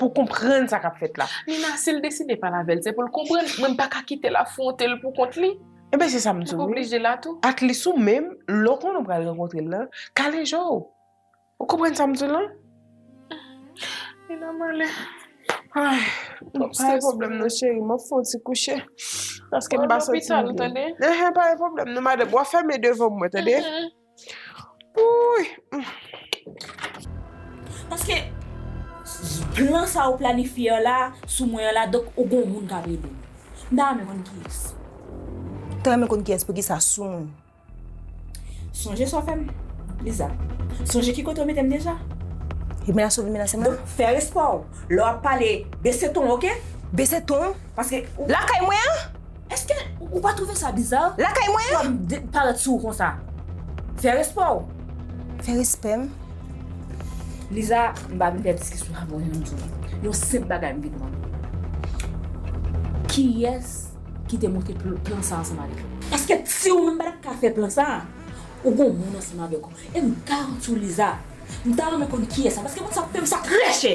Pou konprann sa kap fèt la. Nina sil deside pale avèl se poul konprann mwen mpa ka kitel afwontel pou kont li. Ebyen se sam diw wi atlis ou menm lè w konnen w pral rankontrel lan kale je w ou konprann sam diw lan. Nina male ay twòp strès. Pa gen pwoblèm non cheri map fè yon ti kouche paskem pa santim byen. Mwen al lopital tande. Enhen pa gen pwoblèm non madanm wap fèmen devanm mwen tande. Paske plan sa ou planifye an la sou mwen an la donk ou gon moun kap ede ou. M ta renmen konn kiyès. Ou ta renmen konn kiyès poukisa sou mwen. Sonje sa w fè m Liza. Sonje ki kote ou mete m deja. Li menase w vin menase m la. Donk fè respè w lè wap pale bese ton w ok. Bese ton? Paske. Lakay mwen an? Eske ou pa trouve sa biza? Lakay mwen? Fòm de parèt sou ou konsa. Fè respè w. Fè respè m. Liza, m pa vin fè diskisyon avè w nan zòn. Yon senp bagay m vin mande w. Kiyès ki te monte plan sa ansanm avèk ou? Eske ti ou menm pa tap ka fè plan sa? Ou gon moun ansanm avèk ou. E m garanti w Liza, m ta renmen konn kiyès sa paske moun sa ap fè m sa trè chè.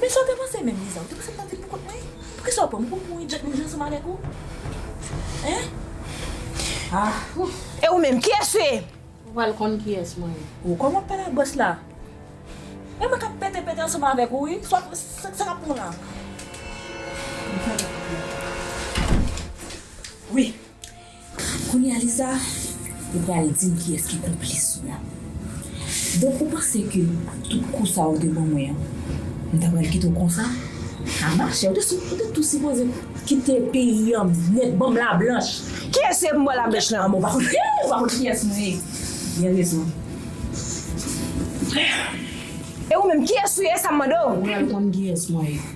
Men sa w te panse menm Liza, ou te panse m t ap vin poukont mwen? Poukisa ou pran m pou m mouri djòt menm jan ansanm avèk ou? Hein? Ah ouf! E ou menm, kiyès ou ye? Ou pral konn kiyès mwen ye. Ou kòman w ap pale ak bòs la? E mwen k ap pete pete ansanm avèk ou wi. Sa w ap, sa k ap pran w la? Wi. Kounye a Lisa ou pral dim kiyès ki konplis ou la. Donk ou panse ke tout kou sa ou te ban mwen an m ta pral kite w konsa? A machè ou te sou ou te tou sipoze kite peyi an nèt banm la blanch. Kiyès se pou m bò la blanch lan? An men ou pa konn hee ou pa konn kiyès mwen ye. Gen rezon. E ou menm kiyès ou ye e sa m mande w? Ou pral konn kiyès mwen ye.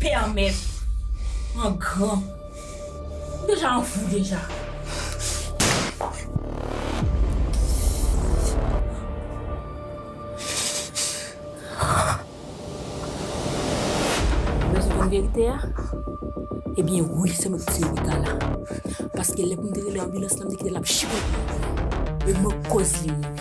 Pèmèt an gran. M deja an fou deja. Ou bezwen konn verite a? Ebyen wi se mwen ki tiye Rita la. Paske lè pou m te rele anbilans lan m te kite l ap chipote. E mwen k koz li mouri.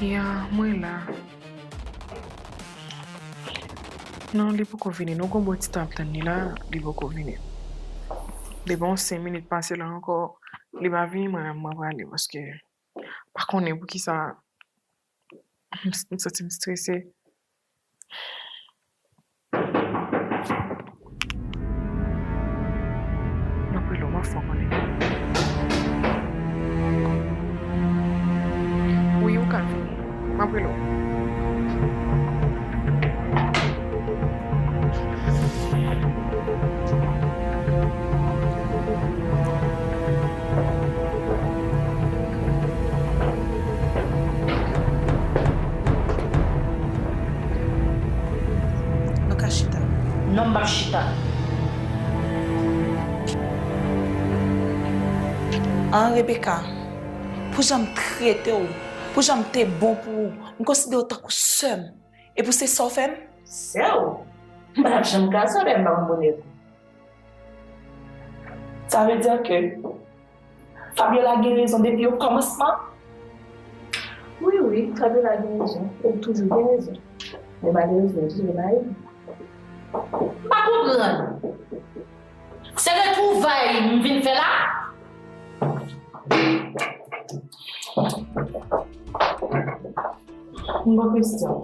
Ya mwen la. Non li poko vini nou gon bon titan ap tann li la li poko vini depi yon 5 minit pase la ankò li pa vini mwen menm mwen prale paske mpa konnen poukisa. M santi m strese. M ap rele w an fò konnen. Wi ou ka vini. M ap rele w. Nou ka chita. Non m pap chita. An Rebeka, pou jan m trete w, pou jan m te bon pou ou, m konsidere w tankou sè m. E pou se sa w fè m? Sè w? M pa t ap janm ka sa dèyè m pa konn bonè pou. Sa vle di ke Fabiola gen rezon depi o kòmansman? Wi, wi, Fabiola gen rezon. E li toujou gen rezon. Men malerezman, li toujou gen mari li. M pa konprann! Se retwouvay m vin fè la. Yon bon kesyon.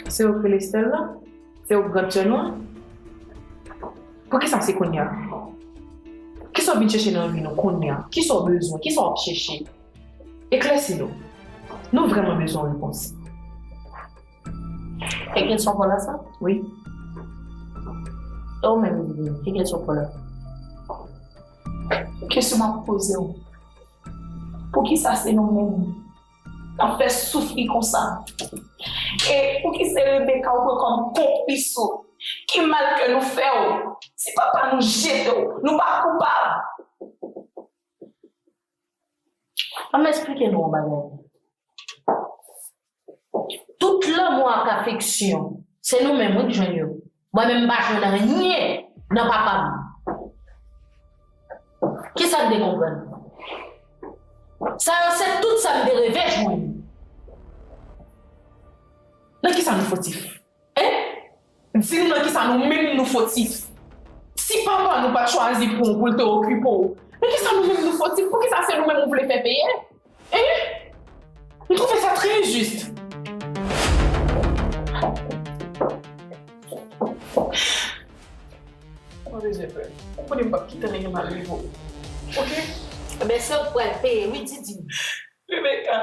Se ou Felestel la? Se ou Grand Tchenwa? Poukisa se kounya? Kisa w vin chèche nan vi nou kounya? Kisa w bezwen? Kisa w ap chèche? Eklèsi nou. Nou vrèman bezwen repons. Ke kèsyon pou la sa? Wi. E ou menm Divine, ke kèsyon pou la? Kèsyon map poze ou. Poukisa se nou menm kap fè soufri konsa? E pouki se Rebecca ou pran kòm konplis ou? Ki mal ke nou fè ou? Se papa nou jete ou. Nou pa koupab. An m esplike nou yon bagay. Tout lanmou ak afeksyon, se nou menm wi k jwenn yo. Mwen menm m pa jwenn anyen nan papa m. Kisa n te konprann? Sa yo se tout sa m te reve jwenn. Nan kisa nou fotif? Hein? Di m nan kisa nou menm nou fotif? Si papa nou pat chwazi pou w pou l te okipe w, nan kisa nou menm nou fotif? Poukisa se nou menm ou vle fè peye? Hein? M twouve sa trè enjist. Pa bezwen pè. Ou konnen m pap kite anyen mal rive w. Ok? Ebyen se ou k pral peye wi Didi. Rebecca.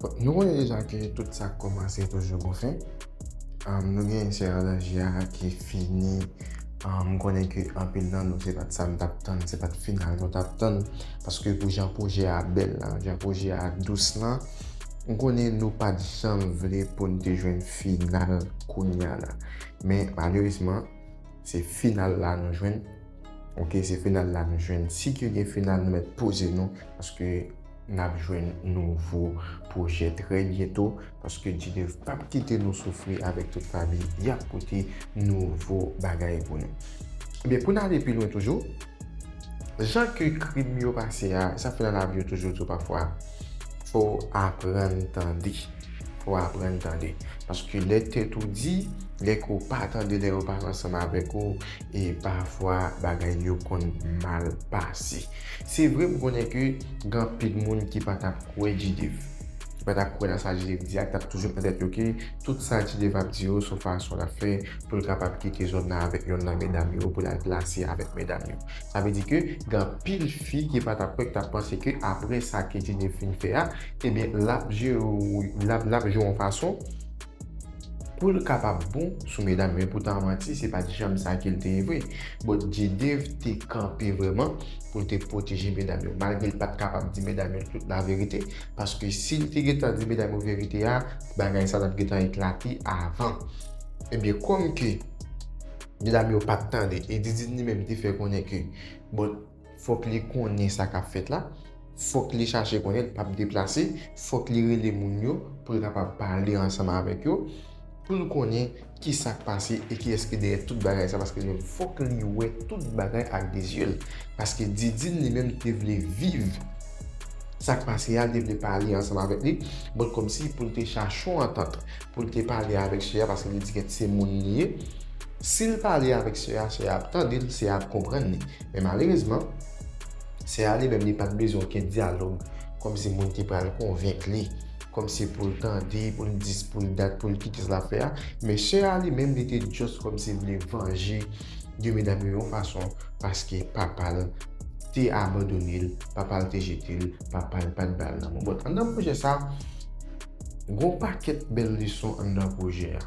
Bon, nou konnen deja ke tout sa k kòmanse toujou gon fen. Nou gen sè Alangia ki fini, m konnen ke anpil nan nou se pat sa nou tap tann, se pat final nou tap tann. Paske pou jan pwojè a bèl la, jan pwojè a dous la, m konnen nou pat janm vle pou n te jwenn final kounya la. Men malerezman, se final la nou jwenn. Ok, se final la nou jwenn. Si ke gen final nou mèt poze nou, paske. Nap jwenn nouvo pwojè trè byento paske G-Dev pap kite nou soufri avèk tout lavi yap pote nouvo bagay pou nou. Ebyen pou n ale pi lwen toujou, jan ke krim yo pase a, sa fè nan lavi yo toujou di w pafwa fò w aprann tande, fò w aprann tande paske lè tèt ou di, lè ke w pa tande, lè yo pa ansanm avèk ou E pafwa bagay yo konn mal pase. Se vre m konnen ke gen anpil moun ki pa t ap kwè G-Div. Ki pa t ap kwè nan sa G-Div di a, ki t ap toujou nan tèt yo ke tout sa G-Div ap di yo se yon fason l ap fè pou l kapab kite zòn nan avèk yonn nan medam yo pou l al glase avèk medam yo. Sa vle di ke gen anpil fi ki pa t ap kwè, ki t ap panse ke apre sa ke G-Div fin fè a, ebyen l ap jere l ap jwe yon fason, Poul kapab bon sou medam men poutan manti se pat janm sa kel te ye vre but J-Dave te kanpe vrèman poul te pwoteje medam yo malgrel pat kapab di medam yo tout la verite paske sil te gentan di medam yo verite a bagay sa tap gentan eklate avan ebyen kòm ke medam yo pat tande e Didine li menm te fè konnen ke bon Fòk li konnen sa k ap fèt la, fòk li chache konnen, li p ap deplase, fòk li rele moun yo pou l kapab pale ansanm avèk yo, pou l konnen ki sa k pase e kiyès ki dèyè tout bagay sa paske li menm fòk li wè tout bagay ak de zye l paske Didine li menm te vle viv sa k pase a, li te vle pale ansanm avèk li bon kòmsi pou l te chache yon antant pou l te pale avèk sè a paske li di gèt se moun li ye si l pale avèk sè a, sè a ap tande l, sè a ap konprann li. Men malerezman, sè a li menm li pa t bezwen okenn dyalòg kòmsi moun te pral konvenk li, kòmsi pou l tande, pou l di, pou l dat, pou l kite sa l ap fè a. Men sè a li menm li te just kòmsi vle vanje de medam yo yon fason paske papa l te abandone l, papa l te jete l, papa l pa t ba l lanmou. Bon, anndan pwojè sa, gen yon pakèt bèl leson anndan pwojè a.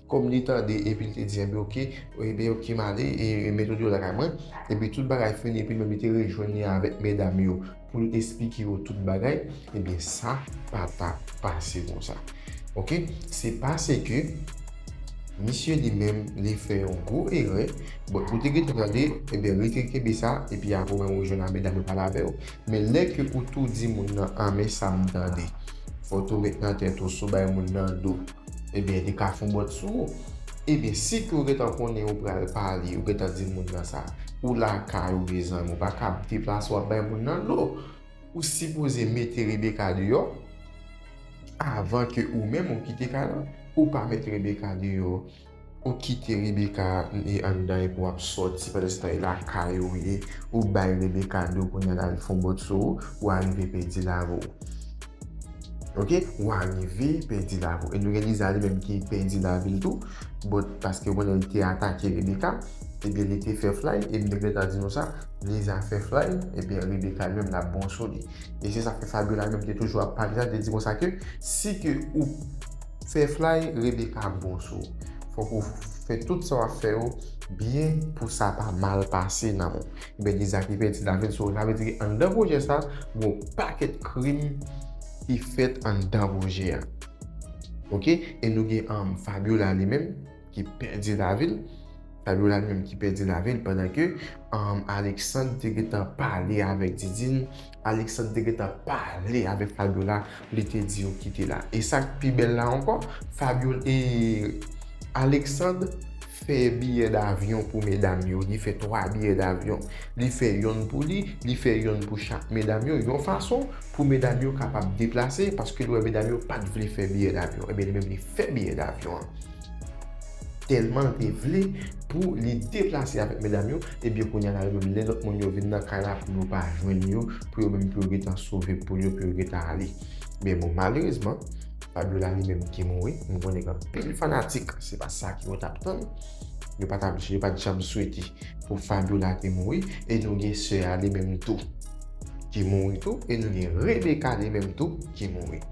Kòm li tande epi li te di, Enben oke, enben oke m ale e mete w lakay mwen. Epi tout bagay fini epi menm li te rejwenn li avèk medam yo pou l esplike yo tout bagay, enben sa pa t ap pase konsa. Oke, se paseke misye li menm li fè yon gwo erè. Bon, ou te gentan tande, enben rete kenbe sa epi apre ou menm ou jwenn ak medam yo pale avè yo. Men lè ke ou tou di moun nan, Anmè sa m tande, fò tou met nan tèt ou si w bay moun nan do. Ebyen li ka fon bòt sou ou. Ebyen si ke ou gentan konnen ou pral pale, ou gentan di moun nan sa. Ou lakay ou gen zanmi, ou pa ka ap deplase wap bay moun nan dlo. Ou sipoze mete Rebecca deyò avan ke ou menm ou kite kay lan. Ou pa met Rebecca deyò. Ou kite Rebecca li anndan epi wap sòti pandanstan e lakay ou ye ou bay Rebecca do kounya lal fon bòt sou ou ou arive pèdi lavi w ok ou arive pèdi lavi w e nou gen Lisa li menm ki pèdi lavi l tou bòt paske ou konnen li te atake Rebecca epi li te fè flay e m te gentan di nou sa Lisa fè flay epi Rebecca li menm lap bon sou li e se sak fè Fabiola menm te toujou ap pale sa li te di konsa ke si ke ou Sè flay Rebecca bon sou ou fòk ou fè tout sa wap fè yo byen pou sa pa mal pase nan ou ebyen di zaki pè ti lavi'l sou ou sa vle di ki anndan pwojè sa gon pakèt krim ki fèt anndan pwojè a ok e nou gen Fabiola li menm ki pèdi lavi l, Fabiola li menm ki pèdi lavi l pandan ke Alexandre te gentan pale avèk Didine, Alexandre te gentan pale avèk Fabiola, li te di yo kite la. E sa k pi bèl la ankò, Fabiola e Alexandre fè biyè davyon pou medam yo, li fè 3 biyè davyon. Li fè yonn pou li, li fè yonn pou chak medam yo, yon fason pou medam yo kapab deplase paske li wè medam yo pa t vle fè biyè davyon. Ebyen li menm li fè biyè davyon an. Tèlman l te vle pou li deplase avèk medam yo, ebyen kounya la yo menm lè lòt moun yo vin nan kay la pou yo pa jwenn yo, pou yo menm pou yo gentan sove poul yo pou yo gentan ale. Men bon malerezman, Fabiola li menm te mouri, m konnen gen anpil fanatik se pa sa ke yo t ap tann, yo pa t ap yo pa t janm swete pou Fabiola te mouri e nou gen sè a li menm tou ki mouri tou e nou gen Rebecca li menm tou ki mouri.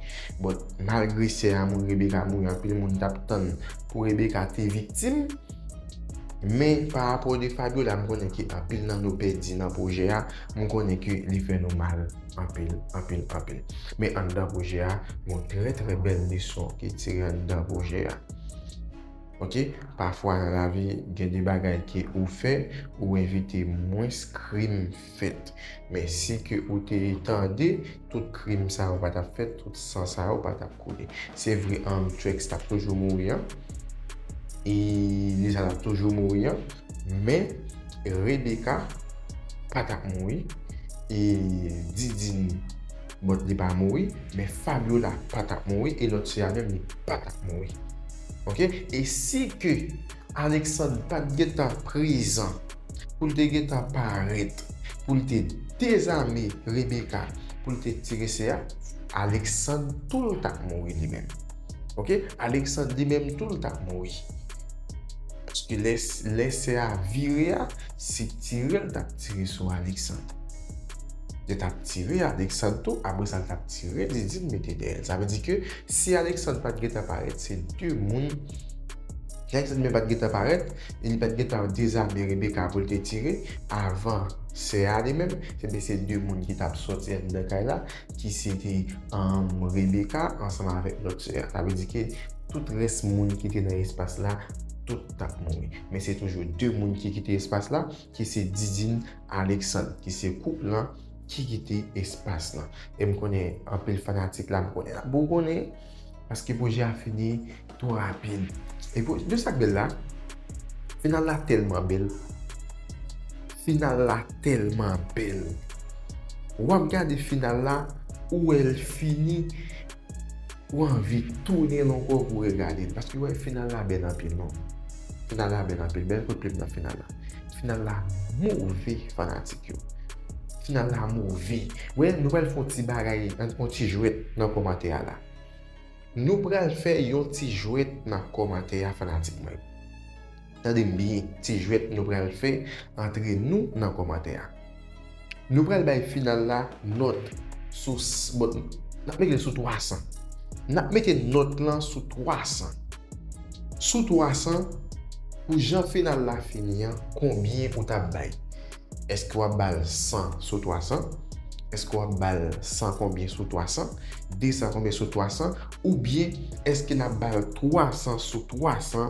Bon. Malgre sè amour Rebecca mouri anpil moun tap tann pou Rebecca te viktim men pa rapò de Fabiola m konnen ke anpil nan nou pèdi nan pwojè a m konnen ke li fè nou mal anpil anpil anpil men anndan pwojè a gon trè trè bèl leson ki tire anndan pwojè a ok pafwa nan lavi gen de bagay ke ou fè ou evite mwens krim fèt. Men si ke ou te tande, tout krim sa yo pa tap fèt, tout san sa yo pa tap koule. Se vre Amtrak tap toujou mouri an, e Lisa tap toujou mouri an, men Rebecca pa tap mouri, e Didine, bon li pa mouri, men Fabiola pa tap mouri, e lòt sè a menm li pa tap mouri. Ok, e si ke Alexandre pat gentan prezan. pou l te gentan parèt pou l te dezame Rebeka pou l te tire se a, Aleksann tou l t ap mouri li menm. Ok, Aleksann li menm tou l t ap mouri. Paske lè se a vire a, se tire l t ap tire sou Aleksann. Yo t ap tire Aleksann tou, apre sa l t ap tire Didine mete dèyè l. Sa vle di ke si Aleksann pa t gentan parèt, se 2 moun, si Aleksann li menm pa t gentan parèt, E li pat gentan dezame Rebecca pou l te tire avan sè a li menm. Ebyen se 2 moun ki tap sòti anndan kay la ki se te Rebecca ansanm avèk lòt sè a. Sa vle di ke tout rès moun ki te nan espas la tout tap mouri. Men se toujou 2 moun ki kite espas la. ki se Didine Alexandre ki se koup lan ki kite espas lan. E m konnen anpil fanatik la m konnen y ap bougonnen paske pwojè a fini twò rapid. E pou di w sa k bèl la, final la tèlman bèl, final la tèlman bèl, w ap gade final la ou wè l fini. Ou anvi tounen l ankò pou regade l paske wè final la bèl anpil non. Final la bèl anpil, bèl kout plim nan final la. Final la move fanatik yo. Final la move. Wè nou pral fè yon ti bagay, yon ti jwèt nan kòmantè a la. Nou pral fè yon ti jwèt nan kòmantè a fanatik mwen yo. Tande m byen, ti jwèt nou pral fè antre nou nan kòmantè a. Nou pral bay final la nòt sou bon n ap mete l sou 300. N ap mete nòt lan sou 300. Sou 300, pou jan final la fini an, konbyen ou t ap bay? Eske wap bal 100 sou 300? Eske wap bal 100 konbyen sou 300? 200 konbyen sou 300? Oubyen eske nap bal 300 sou 300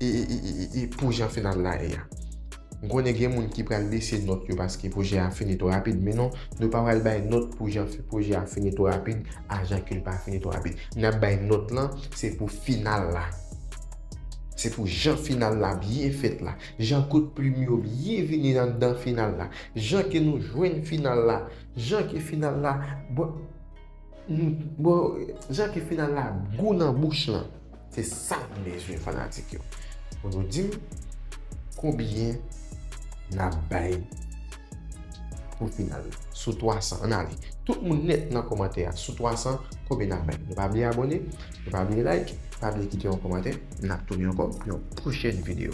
e pou jan final la ye a? M konnen gen moun ki pral bese nòt yo paske pwojè a fini twò rapid men non, nou pa pral bay nòt pou jan pwojè a fini twò rapid a jan ke l pa fini twò rapid. Nap bay nòt lan se pou final la. Se pou jan final la byen fèt la. Jan kout plim yo byen vini anndan final la. Jan ke nou jwenn final la. Jan ke final la bon bon jan ke final la gou nan bouch lan. Se sa m bezwen fanatik yo. Pou nou di m konbyen n ap bay. Pou final sou 300 an ale tout moun nèt nan kòmantè a sou 300 konbyen nap bay nou pa bliye abòne nou pa bliye like pa bliye kite yon kòmantè nap tounen ankò pou yon pwochèn video.